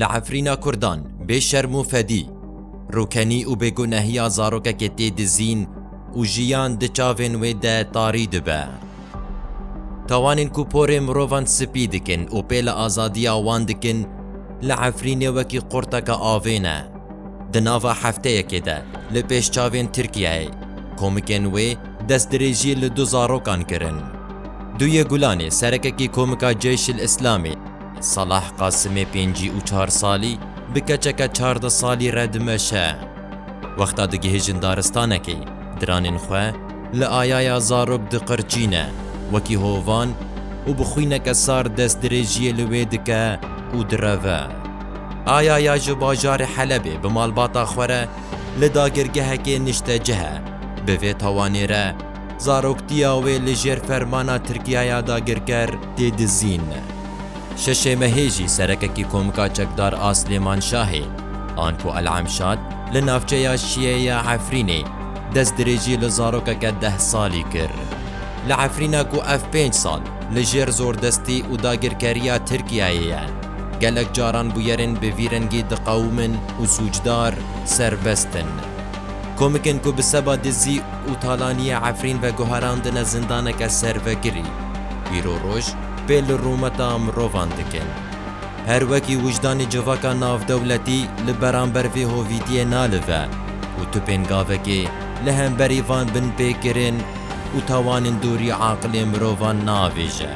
Li Efrîna Kurdan bê şerm û fedî, rûkenî û bêgunehiya zarokekê tê dizîn û jiyan di çavên wê de tarî dibe. Tawanên ku porê mirovan spî dikin û pêla azadiya wan dikin, li Efrînê wekî qurteke avê ne. Di nava hefteyekê de li pêş çavên Tirkiyeyê, komikên wê destdirêjî li du zarokan kirin. Duyê Gulanê serekekî komika Ceyşil Îslamê, Salah Qasimê pêncî û çar salî bi keçeke çardeh salî re dimeşe. Wexta digihêjin daristanekê, diranên xwe li ayaya zarok diqirçîne wekî hovan û bi xwîneke sar destdirêjiyê li wê dike û direve. Ayaya ji bajarê Helebê bi malbata xwe re li dagirgehekê niştecih e, bi vê tawanê re, Zaroktiya wê li jêr fermana Tirkiyaya dagirker tê dizîn. Şeşê mehê jî serekekî Komka Çekdar a Silêmanşahê, Anto El Emşat li navçeya Şiyê ya Efrînê destdirêjî li zarokeke deh salî kir. Li Efrîna ku ev pênc sal li jêr zordestî û dagirkeriya Tirkiyeyê ye, gelek caran bûyerên bi vî rengî diqewimin û sûcdar serbest in. Komikên ku bi seba dizî û talaniyê Efrîn veguherandine zindaneke servegirî, îro roj pê li rûmeta mirovan dikin. Her wekî wijdanê civaka navdewletî li beramber vê hovîtiyê nalive û tu pêngavekê li hemberî van binpêkirin û tawanên dûrî aqilê mirovan naavêje.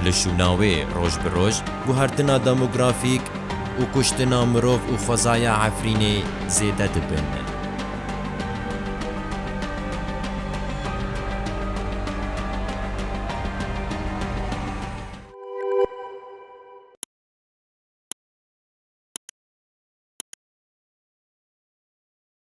Li şûna wê roj bi roj guhertina demografîk, û kuştina mirov û xwezaya Efrînê zêde dibin.